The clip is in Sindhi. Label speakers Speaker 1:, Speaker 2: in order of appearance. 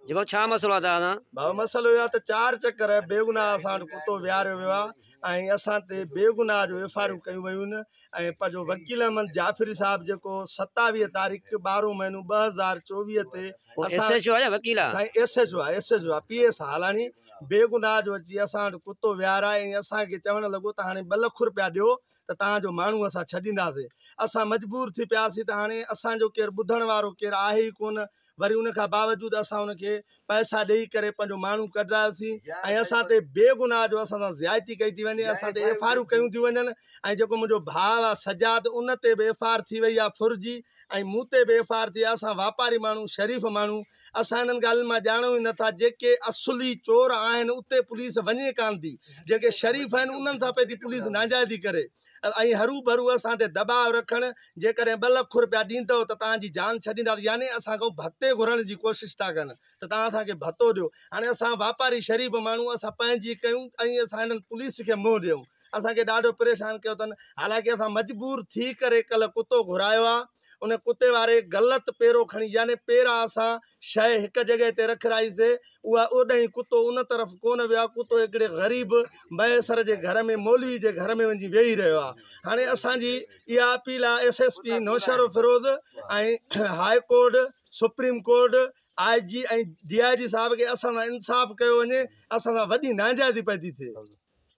Speaker 1: جيڪو ڇا مسئلو آهي تنهنجا؟ بابا مسئلو اهو آهي ته
Speaker 2: چار چڪر بيگناهه اسان وٽ ڪتو ويهاريو ويو آهي ۽ اسان تي بيگناهه جو ايف آء آرون ڪيون ويون آهن ۽ پنهنجو وڪيل احمد جعفري صاحب جيڪو ستاويهه تاريخ ٻارهون مهينو ٻه هزار چوويهه تي هو ايس ايڇ او آهي يا وڪيل
Speaker 1: آهي؟ سائين ايس ايڇ او آهي ايس
Speaker 2: ايڇ او آهي پي ايس آهي هالاڻي بيگناهه جو اچي اسان وٽ ڪتو ويهارائي ۽ اسان کي چوڻ لڳو ته هاڻي ٻه لک رپيا ڏيو ته توهان جو ماڻهو اسان ڇڏينداسين اسان مجبور ٿي پياسين ته هاڻي اسان جو ڪير ٻڌڻ وارو ڪير آهي ئي ڪونه وري ان کان باوجود اسان ان کي پئسا ڏئي ڪري پنهنجو ماڻهو ڪڍرايوسين ۽ اسان تي بي گناهه جو اسان سان زيادتي ڪئي ٿي وڃي اسان تي ايف آر آرون ڪيون ٿيون وڃن ۽ جيڪو منهنجو ڀاء آ سجاد ان تي به ايف آر آر ٿي وئي آ ڦر جي ۽ مون تي به ايف آر آر ٿي آ اسان واپاري ماڻهو شريف ماڻهو اسان انهن ڳالهين مان ڄاڻون ئي نٿا جيڪي اصلي چور آهن اتي پوليس وڃي ڪانه ٿي جيڪي شريف آهن انهن سان پئي ٿي پوليس ناجائزي ڪري ۽ هروڀرو اسان تي دٻاء رکڻ جيڪڏهن ٻه لک روپيا ڏيندؤ ته توهان جي جان ڇڏينداسين يعني اسان کان ڀتي گهرڻ جي ڪوشش ٿا ڪن ته توهان اسان کي ڀتو ڏيو هاڻي اسان واپاري شريف ماڻهو اسان پنهنجي ڪيون ۽ اسان هنن پوليس کي منهن ڏيون اسان کي ڏاڍو پريشان ڪيو اٿن حالانڪه اسان مجبور ٿي ڪري ڪلهه ڪتو گهرايو آهي ان ڪتي واري غلط پيرو کڻي يعني پيرا اسان شيء هڪ جڳهه تي رک رائي سي اها اوڏهين ڪتو ان طرف ڪون ويا ڪتو هڪڙي غريب ميسر جي گهر ۾ مولوي جي گهر ۾ وڃي ويهي رهيو آ هاڻي اسان جي اها اپيل آ S S P Naushahro Feroze ۽ high court supreme court I G ۽ D I G صاحب کي اسان سان انصاف ڪيو وڃي اسان سان وڏي ناجائزي پئي تي ٿئي